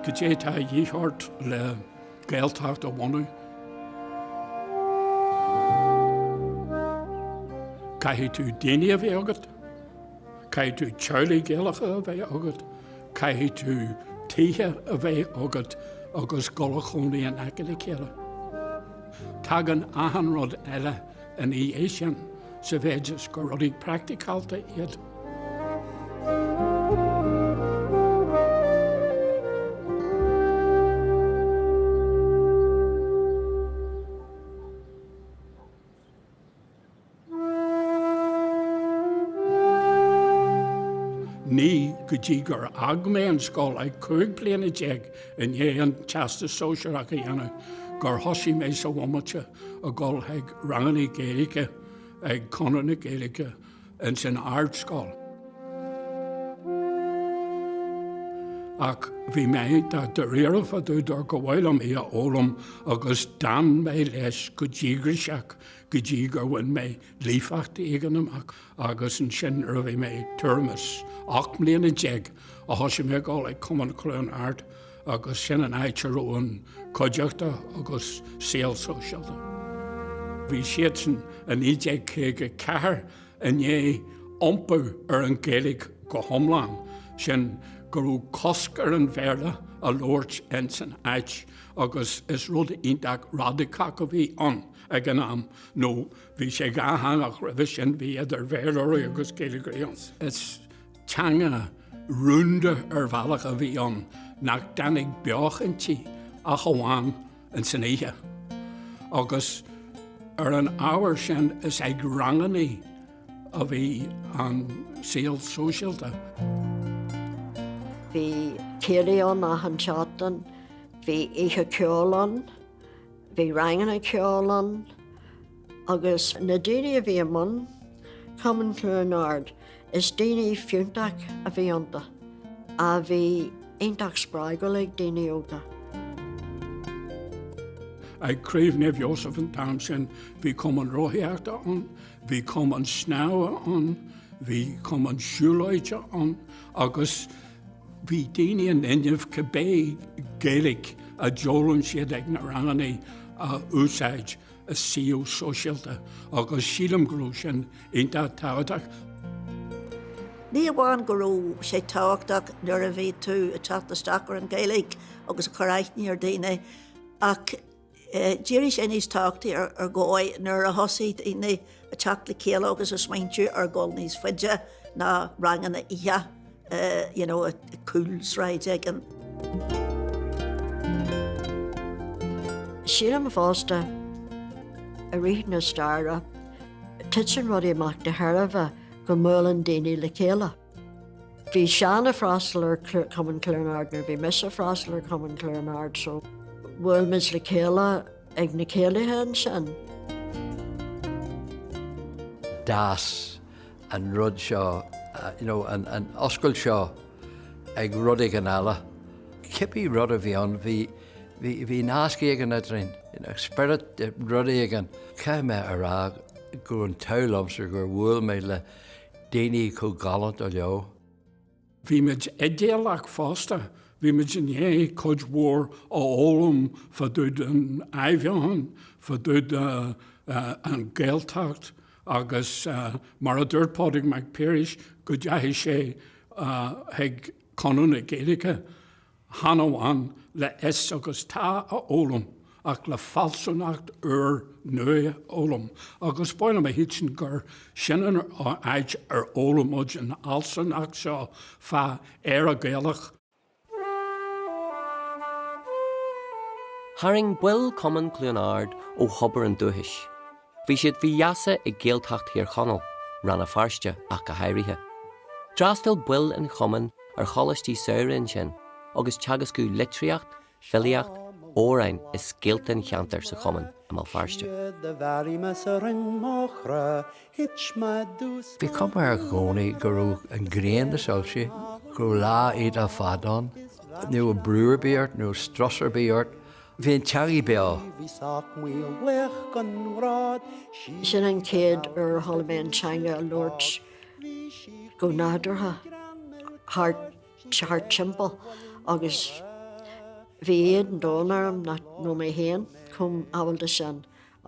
Goidé atá a dhíth ort le Gaeltacht a bhunú. Caithfidh tú daoine a bheith agat, caithfidh tú teaghlaigh Gaelacha a bheith agat, caithfidh tú tithe a bheith agat agus dul a chónaí in aice le chéile. Tagann achan rud eile ina dhiaidh sin, sa mhéid is gur rudaí praicticálta iad. Ní go dtí gur fhág mé an scoil ag cúig bliana déag i ndiaidh an Teastas Sóisearach a dhéanamh gur thosaigh mé i mo bhomaite. ag dul ag rangannaí Gaeilge ag Conradh na Gaeilge ins an Ardscoil. Ach bhí mé dáiríre fá dtaobh dar go bhfuil liom í a fhoghlaim agus d'fhan mé leis go díograiseach go dtí gur bhain mé líofacht éigin amach agus ansin nuair a bhí mé tuairim is ocht mbliana déag a thosaigh mé ag dul ag Cumann Chluain Ard agus sin an áit a raibh an cuideachta agus saol sóisialta. Bhí siadsan i 1954 i ndiaidh iompú ar an Ghaeilge go hiomlán, sin go raibh cosc ar an Bhéarla a labhairt insan áit agus is rud iontach radacach a bhí ann ag an am nó bhí sé dhátheangach roimhe sin, bhí idir Bhéarlóirí agus Gaeilgeoirí ann. Teanga rúnda ar bhealach a bhí ann nach dtáinig beocht inti ach amháin ins an oíche. Agus ar an ábhar sin is ag rangannaí a bhí an saol sóisialta. Bhí céilí ann achan seachtain, bhí oíche ceoil ann, bhí ranganna ceoil ann, Agus na daoine a bhí i mbun Cumann Chluain Ard, is daoine fiúntach a bhí iontu, a bhí iontach spreagúil ag daoine óga. Ag Craobh Naomh Iósaf an t-am sin, bhí Cumann Rothaíochta ann, bhí Cumann Snámha ann, bhí Cumann Siúlóide ann agus bhí daoine in inmhe cibé Gaeilic a d'fhoghlaim siad ag na ranganna a úsáid. sa saol sóisialta agus sílim go raibh sin iontach tábhachtach. Ní amháin go raibh sé tábhachtach nuair a bhí tú ag teacht isteach ar an Ghaeilge agus ag cur aithne ar dhaoine ach d'éirigh sé níos tábhachtaí ar dhóigh nuair a thosaigh daoine Ag teacht le chéile agus ag smaointiú ar dhul níos faide ná ranganna oíche, you know, i gcúlsráid éigin. Sílim fosta, i rith na staire, titeann rudaí amach de thairbhe go mbuaileann daoine le chéile. Bhí Seán ag freastal ar Chumann Chluain Ard nuair a bhí mise ag freastal ar Chumann Chluain Ard so bhuail muid le chéile. ag na céilithe ansin. D'fhás an rud seo, you know, an oscailt seo ag rud éigin eile. Cibé rud a bhí ann, bhí, bhí, bhí nasc éigin idirinn, spiorad, rud éigin. Caithfidh mé a rá go raibh an t-ádh liomsa gur bhuail mé le daoine chomh galánta leo. Bhí muid idéalach fosta, bhí muid i ndiaidh cuid mhór a fhoghlaim fá dtaobh den Athbheochan, fá dtaobh den Ghaeltacht agus mar a dúirt Pádraig Mac Piarais go dteachaigh sé chuig Conradh na Gaeilge chan amháin le is agus tá a fhoghlaim ach le fealsúnacht úr nua a fhoghlaim agus ba mhaith liom a shílstean gur sin an áit ar fhoghlaim muid an fhealsúnacht seo fá Éire Ghaelach. Tharraing baill Chumann Chluain Ard ó thobar an dúchais. Bhí siad faoi gheasa ag Gaeltacht Thír Chonaill, Rann na Feirste ach go háirithe. D'fhreastail baill an chumainn ar choláistí samhraidh ansin agus teagascadh litríocht, filíocht, amhráin is scéalta an cheantair sa chumann i mBéal Feirste. Bhí cuma air i gcónaí go raibh an ghrian ag soilsiú, go raibh laetha fada ann. Ní raibh brú ar bith ort, ní raibh strus ar bith ort. Bhí an teangaidh beo. Sin an chéad uair a chuala mé an teangaidh á labhairt go nádúrtha thart timpeall agus bhí éad an domhain orm nach raibh mé féin chomh ábalta sin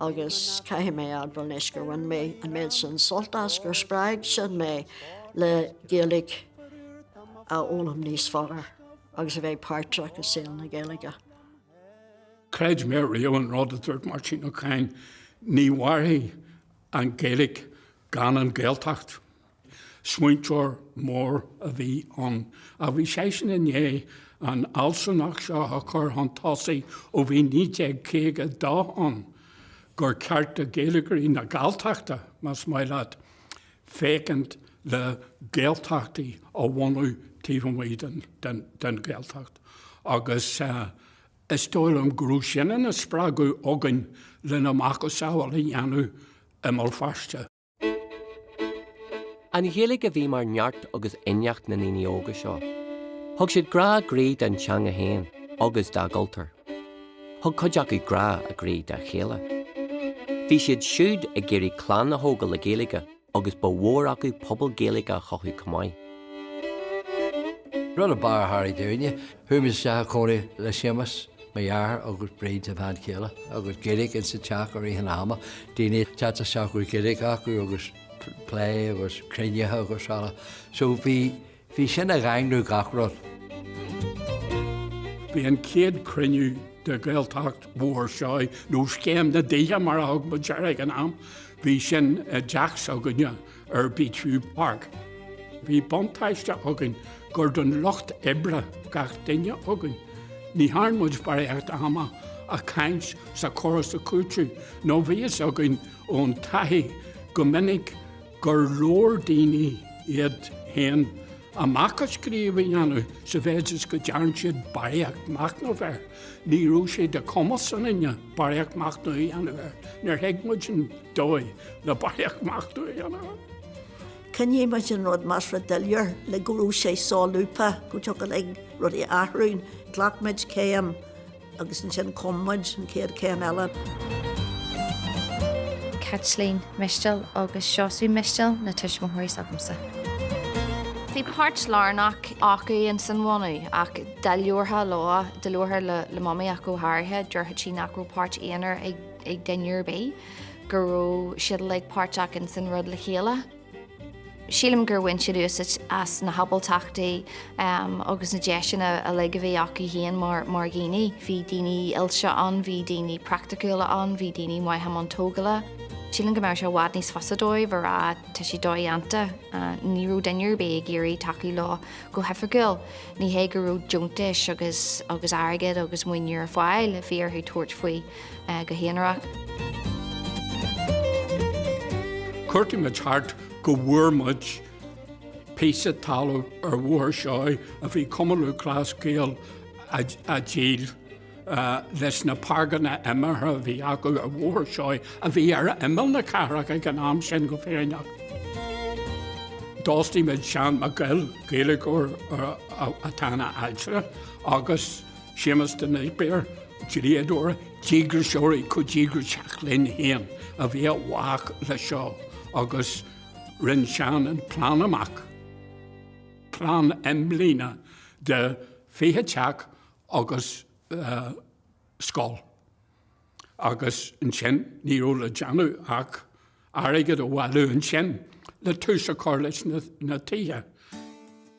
agus caithfidh mé a admháil anois gur bhain mé an méid sin sult as, gur spreag sin mé le Gaeilge a fhoghlaim níos fearr agus a bheith páirteach i saol na Gaeilge. Chreid mé riamh an rud a dúirt Máirtín Ó Cadhain, ní mhairfidh an Ghaeilge gan an Ghaeltacht. Smaointeoir mór a bhí ann. Ach bhí seisean i ndiaidh an fhealsúnacht seo a chur chun tosaigh ó bhí 1952 ann, gur cheart do Ghaeilgeoirí na Galltachta, más maith leat, féachaint le Gaeltachtaí a bhunú taobh amuigh den Ghaeltacht agus is dóigh liom go raibh sin ina spreagadh againn lena macasamhail a dhéanamh i mBéal Feirste. An Ghaeilge a bhí mar dhlúth agus inneach na ndaoine óga seo. Thug siad grá a gcroí don teanga féin agus dá gcultúr. Thug cuid acu grá a gcroí dá chéile. Bhí siad siúd ag iarraidh clann a thógáil le Gaeilge agus ba mhór acu pobal Gaeilge a chothú chomh maith. Rud a b'fhearr thar i dtúine, chuamar isteach i cónaí le Séamas, mo dheartháir agus Bríd, a bhean chéile, agus Gaeilge ins an teach i rith an ama, daoine ag teacht isteach a raibh Gaeilge acu agus plé agus cruinnithe agus araile. So bhí. Bhí sin ag daingniú gach rud. Bhí an chéad cruinniú de Ghaeltacht Bhóthar Seoighe, nó Scéim na dTithe mar a thug muid air ag an am, bhí sin i dteach s'againne ar Beechview Park. Bhí buntáiste againn gur den lucht oibre gach duine againn. Ní dhearn muid barraíocht ama ag caint 's ag cur 's ag cúiteamh nó bhí a fhios againn ón taithí go minic go leor daoine iad féin a macasamhail a dhéanamh sa mhéid is go ndearn siad barraíocht machnaimh air. Ní raibh sé de chumas ionainne barraíocht machnaimh a dhéanamh air, níor thuig muid an dóigh le barraíocht machnaimh a dhéanamh air. Choinnigh muid an rud measartha doiléir le go raibh sé solúbtha, go dtiocfadh linn rudaí a athrú. Ghlac muid céim. Agus ansin chonaic muid an chéad céim eile. Caitlín Mistéil agus Seosamh Mistéil na tuismitheoirí s'agamsa. Bhí páirt lárnach acu ins an bhunú ach dá labharfá leo, dá labharfá le Mamaí go háirithe, déarfadh sí nach raibh páirt aonair ag duine ar bith, go raibh siad uilig páirteach ins an rud le chéile. Sílim gur bhain siad úsáid as na hábaltachtaí agus na deiseanna uilig a bhí acu féin mar dhaoine. Bhí daoine oilte ann, bhí daoine praiticiúla ann, bhí daoine maithe i mbun tógála. Sílim go mbeadh sé i bhfad níos fusa dóibh a rá 'tá seo dodhéanta'. Ní raibh duine ar bith ag iarraidh tacú leo go hoifigiúil. Ní hé go raibh deontais agus airgead agus maoiniú ar fáil, bhí orthu tabhairt faoi. go haonarach. Chuartaigh muid thart go bhfuair muid píosa talaimh ar Bhóthar Seoighe a bhí Cumann Lúthchleas Gael ag díol leis na páirceanna imeartha a bhí acu ar Bhóthar Seoighe a bhí ar imeall na cathrach ag an am sin go fírinneach. D'fhostaigh muid Seán Mac Goill, Gaeilgeoir atá ina ailtire agus, agus Séamus de Napier, dlíodóir díograiseoir chomh díograiseach linn féin a bhí i bhfách leis seo agus rinne Seán an plean amach, plean imblíne de fiche teach agus scoil. agus ansin ní raibh le déanamh ach airgead a bhailiú ansin le tús a chur leis na tithe.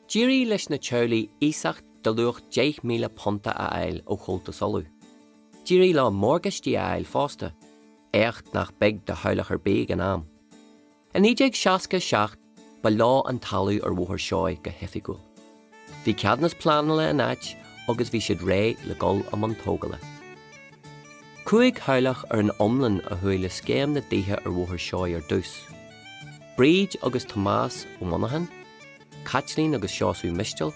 D'éirigh leis na teaghlaigh iasacht de luach deich míle punt a fháil ó Chomhaltas Uladh. D'éirigh leo morgáistí a fháil fosta, éacht nach beag do theaghlach ar bith ag an am. I 1967 ba leo an talamh ar Bhóthar Seoighe go hoifigiúil. Bhí ceadúnas pleanála in áit agus bhí siad réidh le dhul i mbun tógála. Cúig theaghlach ar an iomlán a chuaigh le scéim na dtithe ar Bhóthar Seoighe ar dtús. Bríd agus Tomás Ó Monacháin, Caitlín agus Seosamh Mistéil,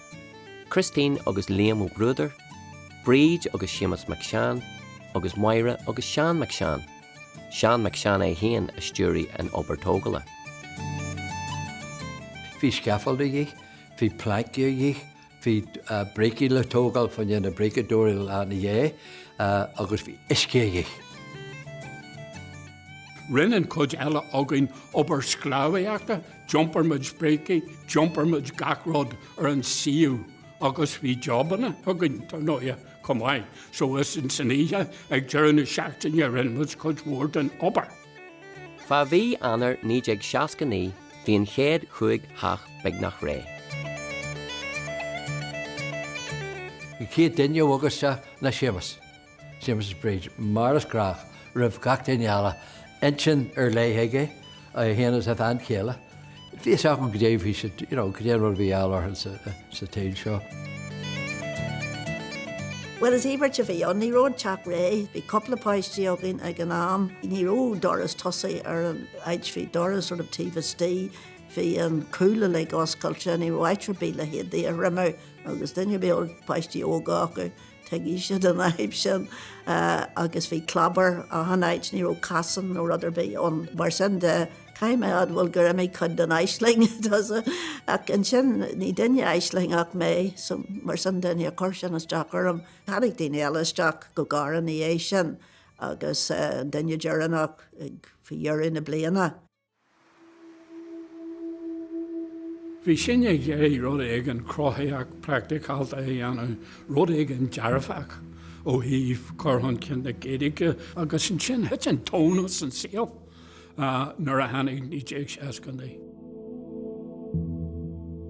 Christine agus Liam Ó Bruadair, Bríd agus Séamus Mac Seáin agus Máire agus Seán Mac Seáin. Seán Mac Seáin é féin a stiúraigh an obair tógala. Bhí scaffold a dhith, bhí plancaí a dhith, bhí brící le tógáil fá dhéin na bríceadóirí lena dhéidh agus bhí uisce a dhith. Rinn an chuid eile againn obair sclábhaíochta, d'iompar muid brící, d'iompar muid gach rud ar an suíomh agus bhí jobanna againn, dar ndóighe. chomh maith. So istoíche ag deireadh na seachtaine rinne muid cuid mhór den obair. Fá mhí Eanáir 1969 bhí an chéad chúig theach beagnach réidh. An chéad duine a bhog isteach ná Séamus, Séamus is Bríd, mar is gnách roimh gach duine eile, intinn ar leith aige, Féin is a bhean chéile. Bhí fhios agam go dtuigfeadh siad cad é an rud a bhí á lorg sa tsaoil seo. Bhuel, is íobairt a bhí ann. Ní raibh an teach réidh, bhí cúpla páiste againn ag an am, ní raibh doras tosaigh ar an áit, bhí doras ar an taobh istigh, bhí an cúl uilig oscailte, ní raibh áit ar bith le héadaí a thriomú agus duine a raibh páistí óga acu, Tuigfidh siad an fhadhb sin agus bhí clábar achan áit, ní raibh casán nó rud ar bith ann. Mar sin de, caithfidh mé a admháil gur imigh cuid den aisling domhsa. Ach ansin, ní duine aislingeach mé, so mar sin de níor chuir sin isteach orm. Tháinig daoine eile isteach go gearr ina dhiaidh sin agus an duine deireanach ag, faoi dheireadh na bliana. Bhí sinn ag iarraidh rud éigin cruthaitheach praicticálta a dhéanamh, rud éigin dearfach ó thaobh cur chun cinn na Gaeilge agus ansin thit an tóin as an saol nuair a tháinig 1969.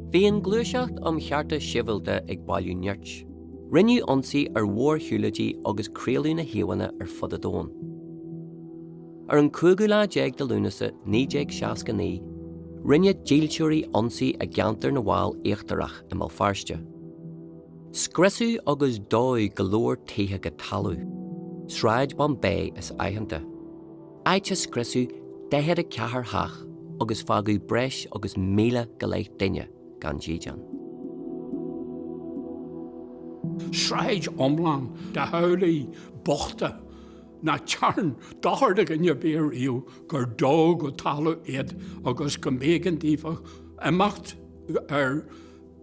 Bhí an Ghluaiseacht um Chearta Sibhialta ag bailiú nirt. Rinneadh ionsaí ar mhórshiúlóidí agus craoladh na híomhánna ar fud an domhain. Ar an cúigiú lá déag de Lúnasa 1969, rinne dílseoirí ionsaí i gceantar na bhFál Íochtarach i mBéal Feirste. Scriosadh agus dódh go leor tithe go talamh, Sráid Bombay is aitheanta, áit a scriosadh 44 theach agus fágadh breis agus míle go leith duine gan dídean. Sráid iomlán de theaghlaigh bochta nach dtearn dochar do dhuine ar bith ariamh gur dódh go talamh iad agus go mb'éigean daofa imeacht ar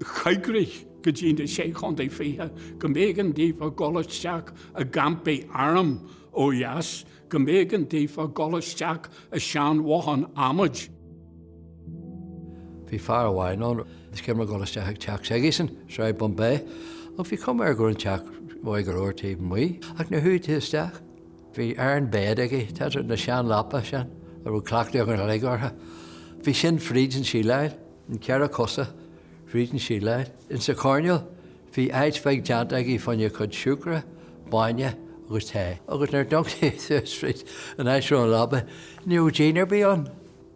choigrích go dtí na Sé Chontae Fiche, go mb'éigean daofa dhul isteach i gcampaí airm ó dheas, go mb'éigean daofa dhul isteach i seanbhothán adhmaid. Bhí fear amháin ann is cuimhin liom dhul isteach ag teach s'aigesan, Sráid Bombay, ach bhí cuma air go raibh an teach maith go leor taobh amuigh, ach nuair a chuaigh tú isteach, bhí iron bed aige, tá na seanleapacha sin a raibh cleachtadh againn uilig orthu, bhí sin fríd an tsíleáil, an ceithre cosa fríd an tsíleáil. Ins an choirnéal bhí áit bheag déanta aige fána chuid siúcra, bainne agus tae, agus nuair a d'amharc tú fríd an áit a raibh an leaba, ní raibh díon ar bith ann.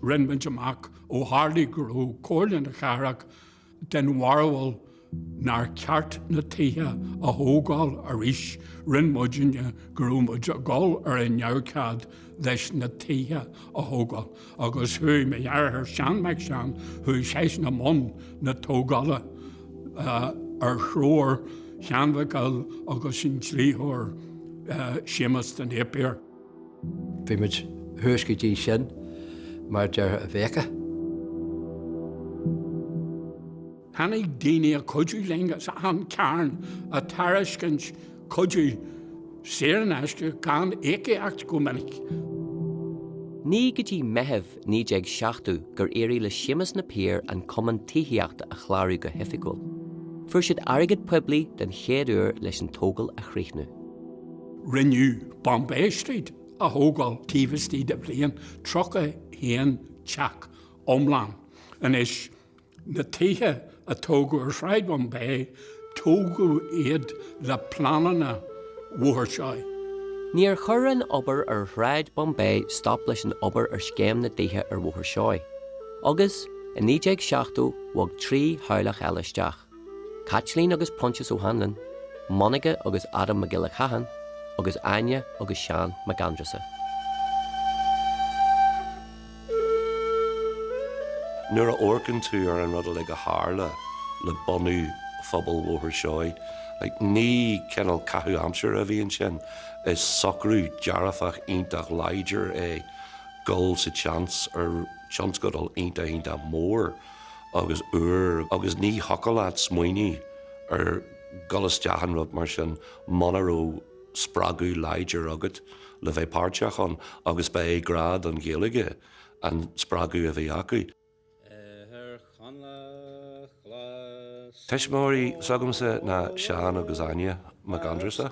Rinn muid amach ó tharla go raibh Comhairle na Cathrach den bharúil nár cheart na tithe a thógáil arís, rinn muidinne go raibh muid ag dul ar a neamhchead leis na tithe a thógáil agus chuaigh mo dhearthair Seán Mac Seáin, chuaigh seisean i mbun na tógála ar threoir Sheáin Mhic Goill agus an dlítheoir Séamus de Napier. Bhí muid thuas go dtí sin mar a déarfá i bhfiacha. Tháinig daoine a chuidiú linn as achan chearn ag tairiscint cuidiú saor in aisce gan íocaíocht go minic. Ní go dtí Meitheamh 1970 gur éirigh le Séamus Napier an cumann tithíochta a chlárú go hoifigiúil. Fuair siad airgead poiblí den chéad uair leis an tógáil a chríochnú. Rinneadh Bombay Street a thógáil taobh istigh de bhliain, 31 teach iomlán. Anois, na tithe a tógadh ar Shráid Bombay, tógadh iad le pleananna Bhóthar Seoighe. Níor chuir an obair ar Shráid Bombay stop leis an obair ar scéim na dtithe ar Bhóthar Seoighe. Agus, i 1970, bhog trí theaghlach eile isteach. Caitlín agus Proinsias Ó hAnluain, Monica agus Adam Mac Giolla Catháin, agus Áine agus Seán Mac Aindreasa. Nuair a amharcann tú ar an rud uilig a tharla le bunú phobal Bhóthar Seoighe, ní cineál caitheamh aimsire a bhí ansin, is socrú dearfach iontach láidir é gabháil sa tseans ar tionscadal iontach, iontach mór agus agus ní thiocfadh leat smaoineamh ar ghabháil isteach in rud mar sin muna raibh spreagadh láidir agat le bheith páirteach ann agus ba é grá don Ghaeilge an spreagadh a bhí acu. Tuismitheoirí s'agamsa ná Seán agus Áine Mac Aindreasa.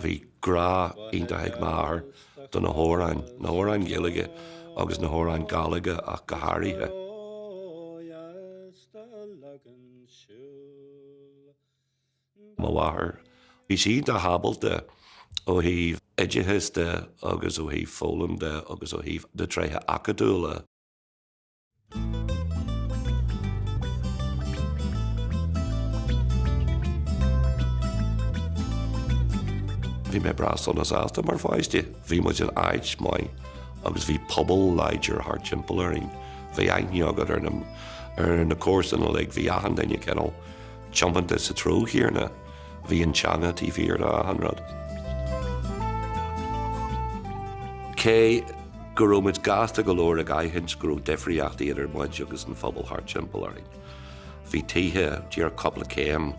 Bhí grá iontach ag m'athair do na hamhráin, na hamhráin Ghaeilge agus na hamhráin Gáidhlige ach go háirithe. mo mháthair. Bhí sí iontach ábalta ó thaobh oideachais de agus ó thaobh foghlaim de agus ó thaobh de tréithe acadúla. Bhí mé breá sona sásta mar pháiste. Bhí muid in áit maith agus bhí pobal láidir thart timpeall orainn. Bhí aithne agat ar na comharsain uilig, bhí achan duine cineál tiomanta sa treo chéanna. Bhí an teanga taobh thiar de achan rud. Cé go raibh muid gasta go leor ag aithint go raibh difríochtaí idir muid agus an phobal thart timpeall orainn. Bhí tithe díreach cúpla céim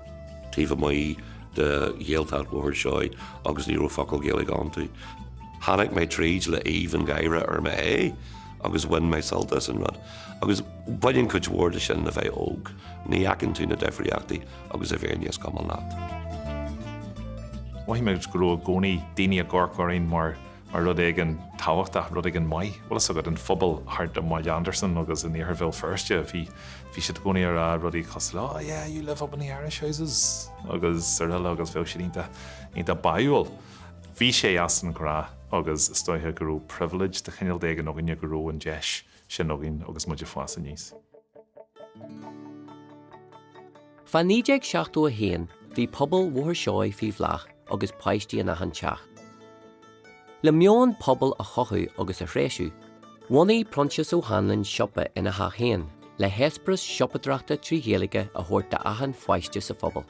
taobh amuigh de Ghaeltacht Bhóthar Seoighe agus ní raibh focal Gaeilge iontu. Tháinig mé tríd le haoibh an gháire ar mo aghaidh agus bhain mé sult as an rud. Agus baineann cuid mhór de sin le bheith óg, ní fheiceann tú na difríochtaí agus bíonn sé níos cuma leat. Mhothaigh mé go raibh i gcónaí daoine ag amharc orainn mar rud éigin tábhachtach, rud éigin maith. Bhfuil 'fhios agat, an phobal thart i mBaile Andarsan agus in iarthar Bhéal Feirste, bhí siad i gcónaí ag rá rudaí cosúil le, oh yeah, you live up in the Irish Houses! agus araile agus bheadh siad iontach báúil. Bhí sé as an ghnáth agus is dóiche go raibh privilege de chineál éigin againne go raibh an deis sin againn agus muid ag fás aníos. Fá 1971 bhí pobal Bhóthar Seoigh faoi bhláth agus páistí in achan teach. Le meon pobail a chothú agus a threisiú, bhunaigh Proinsias Ó hAnluin siopa ina theach féin le heispéireas siopadreachta trí Ghaeilge a thabhairt d'achan pháiste sa phobal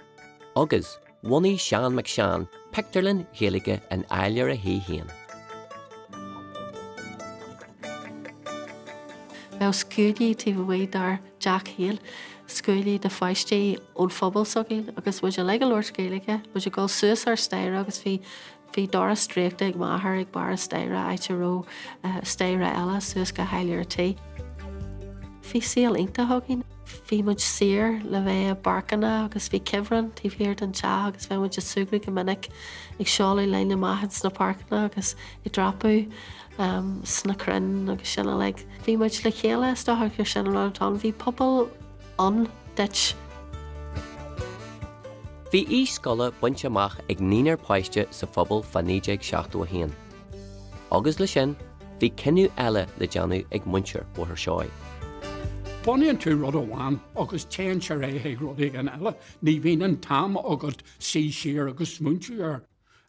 agus, Bhunaigh Seán Mac Seáin pictiúrlann Ghaeilge in áiléar a thí féin. Bheadh scuainí taobh amuigh dár dteach féin, scuainí de pháistí ón phobal s'againn agus muid uilig ag labhairt Gaeilge, muid ag dul suas an staighre agus bhí Bhí doras draoíchta ag m'athair ag barr an staighre áit a raibh staighre eile suas go háiléar an tí. Bhí saol iontach againn. Bhí muid saor le bheith i bpáirceanna agus bhí cuibhreann taobh thiar den teach agus bheadh muid ag súgradh go minic ag siúl linn amach ins na páirceanna agus ag dreapadh sna crainn agus sin uilig. Bhí muid le chéile, is dócha gur sin an rud atá ann. Bhí pobal. ann duit. Bhí aois scoile bainte amach ag naoinár páiste sa phobal fá 1971. Agus leis sin, bhí cinneadh eile le déanamh ag muintir Bhóthar Seoighe. Bunaíonn tú rud amháin agus téann sé ar aghaidh ag rud éigin eile. Ní bhíonn an t-am agat suí siar agus smaoineamh air.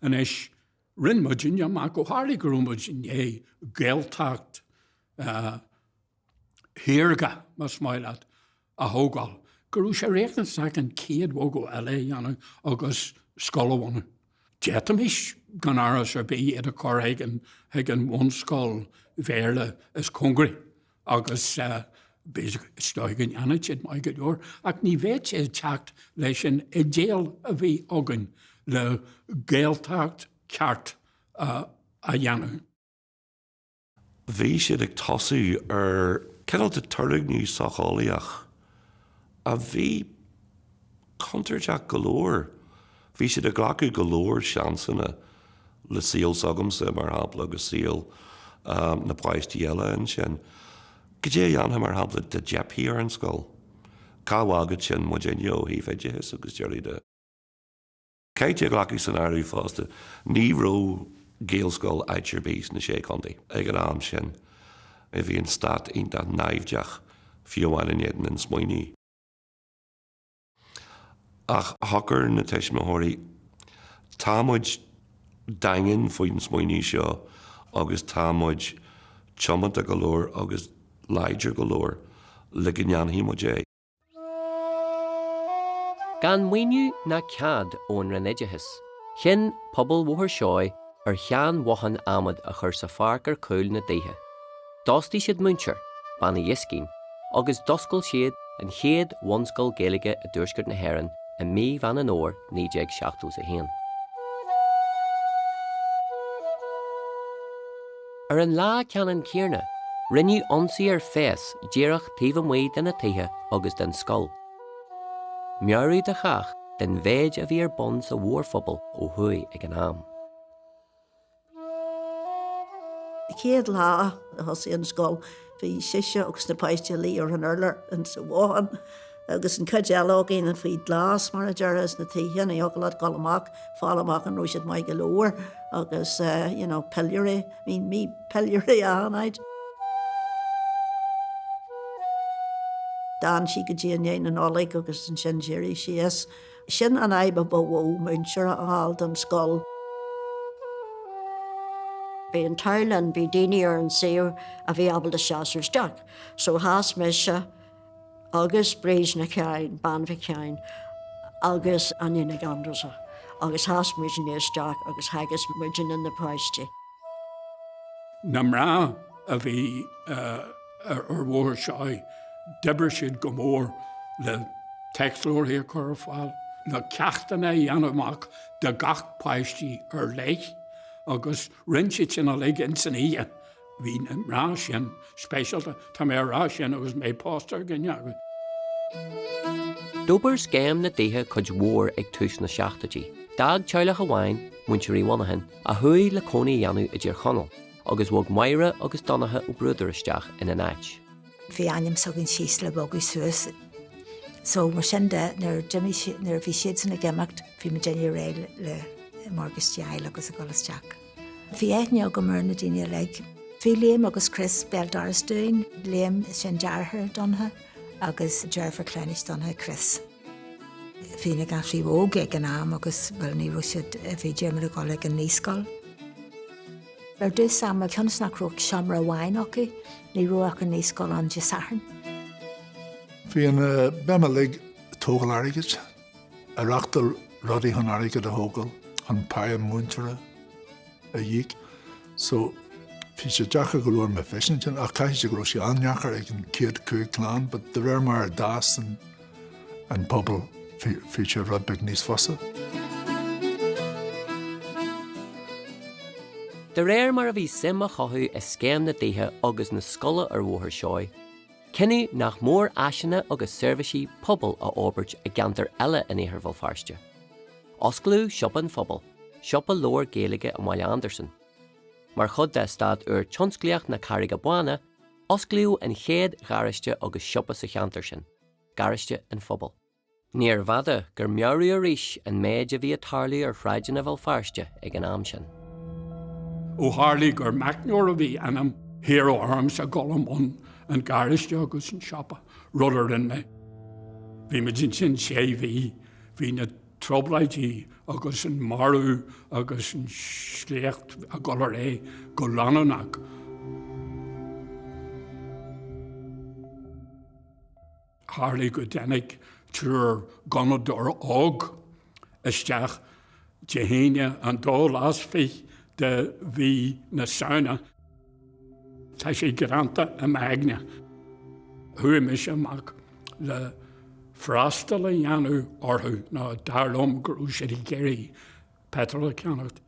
Anois, rinn muidinne amach, ó tharlaigh go raibh muid i ndiaidh Gaeltacht shaorga, más maith leat, a thógáil, go raibh sé riachtanach an chéad bhogadh eile a dhéanamh agus scoil a bhunú. D'fhéadfaimis gan amhras ar bith iad a chur chuig an bhunscoil Bhéarla is cóngaraí agus is dóigh go ndéanfadh siad maith go leor, ach ní bheadh sé ag teacht leis an idéal a bhí againn le Gaeltacht cheart a dhéanamh. Bhí siad ag tosú ar cineál de turgnamh socheolaíoch a bhí contúirteach go leor. Bhí siad ag glacadh go leor seansanna le saol s'agamsa, mar shampla, agus saol na bpáistí eile ansin. Goidé a dhéanfadh, mar shampla, dá dteipfeadh ar an scoil? Cá bhfágfadh sin muid inniu ó thaobh oideachais agus a leithéid de? Caithfidh tú a ghlacadh san áireamh fosta ní raibh Gaelscoil áit ar bith sna Sé Chontae ag an am sin. Bhí an stát iontach naimhdeach fiú amháin in éadan an smaoinimh. Ach shocair na tuismitheoirí, tá muid daingean faoin smaoineamh seo agus tá muid tiomanta go leor agus láidir go leor le go ndéanfaidh muid é. Gan maoiniú ná cead ón Roinn Oideachais, chinn pobal Bhóthar Seoighe ar shean-bhothán adhmad a chur sa pháirc ar cúl na dtithe. D'fhostaigh siad múinteoir, Bean Uí Dhiscín, agus d'oscail siad an chéad bhunscoil Gaeilge i dTuaisceart na hÉireann i mí Mheán an Fhómhair 1971. Ar an lá ceannann céarna, rinneadh ionsaí ar phéas díreach taobh amuigh de na tithe agus den scoil. Meabhrú do chách den mhéid a bhí ar bun sa mhórphobal ó thuaidh ag an am. Chéad lá a thosaigh an scoil. Bhí sise agus na páistí a luí ar an urlár insa bhothán agus an chuid eile againne faoi ghlas, mar a déarfá, ins na tithe, ní thiocfadh leat dul amach, fáil amach an raibh siad maith go leor agus you know piliúirí, bhí piliúirí achan áit. D'fhan sí go dtí i ndiaidh na Nollag agus ansin d'éirigh sí as. Sin an fhadhb a ba mhó, múinteoir a fháil don scoil. Bhí an t-ádh linn, bhí daoine ar an suíomh a bhí ábalta seasamh isteach. So sheas mise agus Bríd Nic Sheáin, Bean Mhic Sheáin, agus Áine Nic Aindreasa agus sheas muidinne isteach agus theagasc muidinne na páistí. Na mná a bhí. Ar Bhóthar Seoighe d'obair siad go mór le téacsleabharthaí a chur ar fáil, na ceachtanna a dhéanamh amach do gach páistí ar leith agus rinne siad sin uilig ins an oíche. Bhí na mná sin speisialta, tá mé a rá sin agus mé pósta ar dhuine acu. D'fhorbair Scéim na dTithe cuid mhór ag tús na seachtóidí. D'fhág teaghlach amháin, Muintir Uí Mhonacháin, a chuaigh le cónaí a dhéanamh i dTír Chonaill, Agus bhog Máire agus Donnacha Ó Bruadair isteach ina n-áit. Bhí ainm s'againn síos le bogadh suas. So mar sin de nuair d'imigh si, nuair a bhí siadsan ag imeacht, bhí muidinne réidh le morgáiste a fháil agus a dhul isteach. Bhí aithne agam ar na daoine uilig. Bhí Liam agus Chris béal doras dúinn, Liam sin deartháir Donnacha agus deirfiúr cleamhnais Donnacha Chris. Bhí na gasraí óg ag an am agus, bhuel, ní raibh siad, bhí Diarmaid ag dul ag an naíscoil. Ar dtús ama cionn is nach raibh ach seomra amháin acu, ní raibh ach an naíscoil ann Dé Sathairn. Bhí an, bhí muid uilig ag tógáil airgid, ag reáchtáil rudaí chun airgead a thógáil chun páighe múinteora a íoc. So, bhí sé deacair go leor mé feisin sin ach caithfidh sé go raibh sé an-deacair ag an chéad cúig clann but de réir mar a d'fhás an an pobal bhí sé rud beag níos fusa. De réir mar a bhí suim á cothú i scéim na dtithe agus na scoile ar Bhóthar Seoigh, cinneadh nach mór áiseanna agus seirbhísí pobail a fhorbairt i gceantar eile in Iarthar Bhéal Feirste. Osclaíodh Siopa an Phobail, siopa leabhar Gaeilge i mBaile Andarsan. Mar chuid d'eastát úr tionsclaíochta na Carraige Báine, Osclaíodh an chéad gharáiste agus siopa sa cheantar sin, Garáiste an Phobail. Níorbh fhada gur meabhraíodh arís an méid a bhí ag tarlú ar shráideanna Bhéal Feirste ag an am sin. Ó tharlaigh gur meicneoir a bhí ionam, hiarradh ormsa a ghabháil i mbun an gharáiste agus an tsiopa, rud a rinne mé. Bhí muid ansin sé mhí, bhí na. trioblóidí agus an marú agus an sléacht ag gabháil ar aghaidh go leanúnach. Tharlaigh go dtáinig triúr gunnadóir óg isteach Dé hAoine an dóú lá is fiche de mhí na Samhna. Tá sé greanta i m'aigne. Chuaigh mise amach le freastal a dhéanamh orthu nó dar liom go raibh siad ag iarraidh peitreal a cheannacht.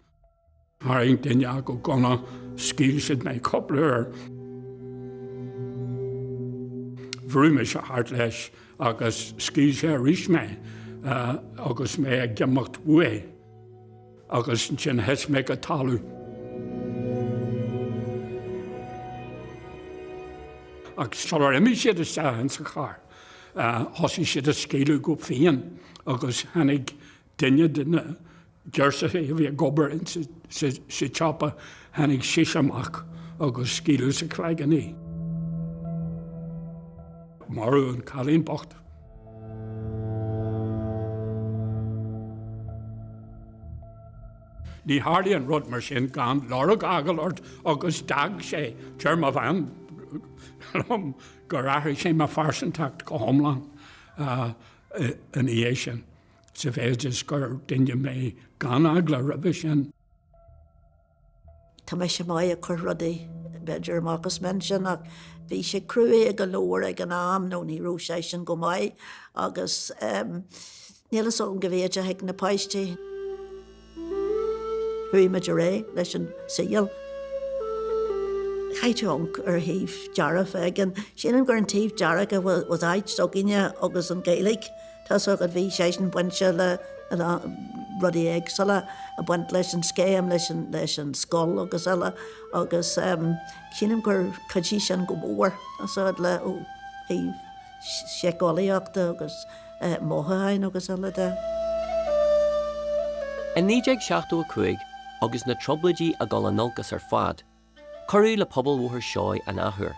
Tharraing duine acu gunna, scaoil sé mé cúpla uair. Bhrúigh mise thart leis agus scaoil sé arís mé agus mé ag imeacht uaidh. Agus ansin thit mé go talamh. Agus sular imigh siad isteach in sa charr, thosaigh siad ag scaoileadh go fiáin agus tháinig duine de na girseachaí a bhí ag obair in sa tsiopa, tháinig sise amach agus scaoileadh sa chloigeann í. Maraíodh an cailín bocht. Ní tharlaíonn rud mar sin gan lorg a fhágáil ort agus d'fhág sé déarfadh mo bhean gur athraigh sé mo phearsantacht go hiomlán ina dhiaidh sin, sa mhéid is gur duine mé gan eagla roimhe sin. Tá mise maith ag cur rudaí b'fhéidir amach as m'intinn ach bhí sé cruaidh go leor ag an am nó ní raibh seisean go maith agus níl fhios agam go bé a dúirt mé leis na páistí. Chuaigh muid ar aghaidh leis an saol. Caithfidh tú amharc ar thaobh dearfach agus sin an, gur an taobh dearfach was áit s'againne agus an Gaeilge. tá a fhios agat bhí seisean bainte le a lán rudaí éagsúla ag baint leis an scéim leis an leis an scoil agus eile agus sílim gur chuidigh sin go mór tá a fhios agat le ó thaobh síceolaíochta agus mothúchán agus eile de. I 1975 agus na Trioblóidí ag dul in olcas ar fad Cuireadh le Pobal Bhóthar Seoighe an athuair.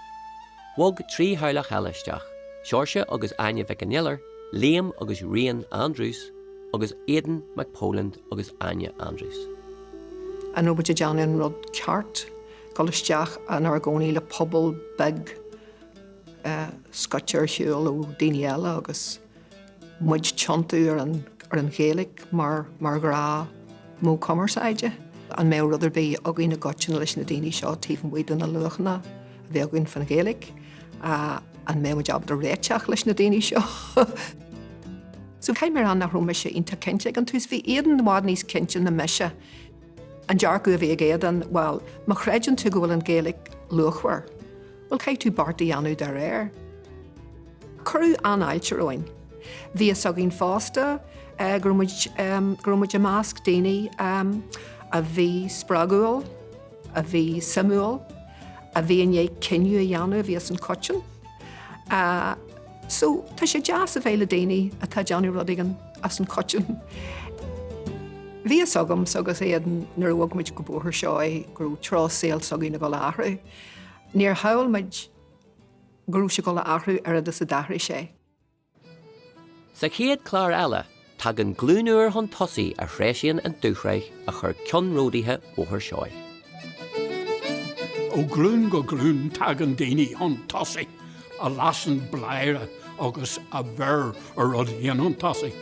Bhog trí theaghlach eile isteach, Seoirse agus Áine Mhic an Iolair, Liam agus Rian Andrews, agus Aodán Mac Póilin agus Áine Andrews. An raibh muid ag déanamh an rud ceart, dul isteach inár gcónaí le pobal beag scoite ar shiúl ó daoine eile agus. muid tiontú ar an Ghaeilge mar ghnáthmhodh cumarsáide. An mbeadh rud ar bith againn i gcoitinne leis na daoine seo taobh amuigh de na luachanna a bhí againn fán Ghaeilge? An mbeadh muid ábalta réiteach leis na daoine seo? So, caithfidh mé rá nach raibh mise iontach cinnte ag an tús. Bhí Aodán i bhfad níos cinnte ná mise. An dearcadh a bhí ag Aodán, bhal, má chreideann tú go bhfuil an Ghaeilge luachmhar, bhuel, caithfidh tú beart a dhéanamh dá réir. Cuireadh an-fháilte romhainn. Bhí fhios againn fosta go raibh muid, go raibh muid i measc daoine a bhí spreagúil, a bhí suimiúil, a bhí i ndiaidh cinneadh a dhéanamh a bhí as an choiteann. So, tá sé deas a bheith le daoine atá ag déanamh rud éigin as an choiteann. Bhí fhios agamsa agus Aodán nuair a bhog muid go Bóthar Seoighe go raibh treo saoil s'againne ag dhul a athrú. Níor shamhail muid go raibh sé ag dhul a athrú oiread is a d'athraigh sé. Sa chéad chlár eile, Tagann glúin úr chun tosaigh a threisíonn an dúshraith a chuir ceannródaithe Bhóthar Seoighe. Ó ghlúin go glúin tagann daoine chun tosaigh a lasann bladhaire agus a bheir an rud féin chun tosaigh.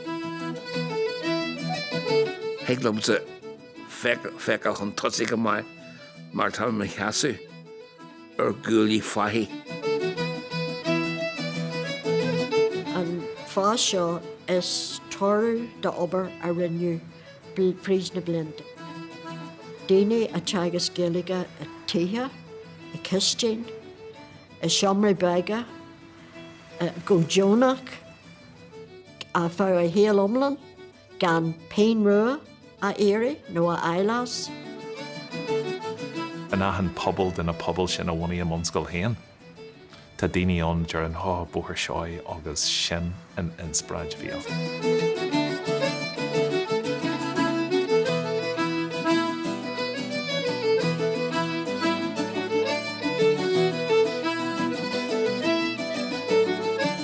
Thig liomsa feiceáil chun tosaigh go maith mar tá mé i mo sheasamh. ar ghuaillí fathaigh. An fás seo is toradh d'obair a rinneadh fríd na blianta. Daoine ag teagasc Gaeilge i tithe, i cistin, i seomraí beaga, go deonach, ar feadh a shaol iomlán. Gan pingin rua a iarraidh nó a fháil as. In achan pobal de na pobail sin a bhunaigh a mbunscoil féin, tá daoine ann a deireann, Ó, Bóthar Seoighe agus sin an inspioráid a bhí acu.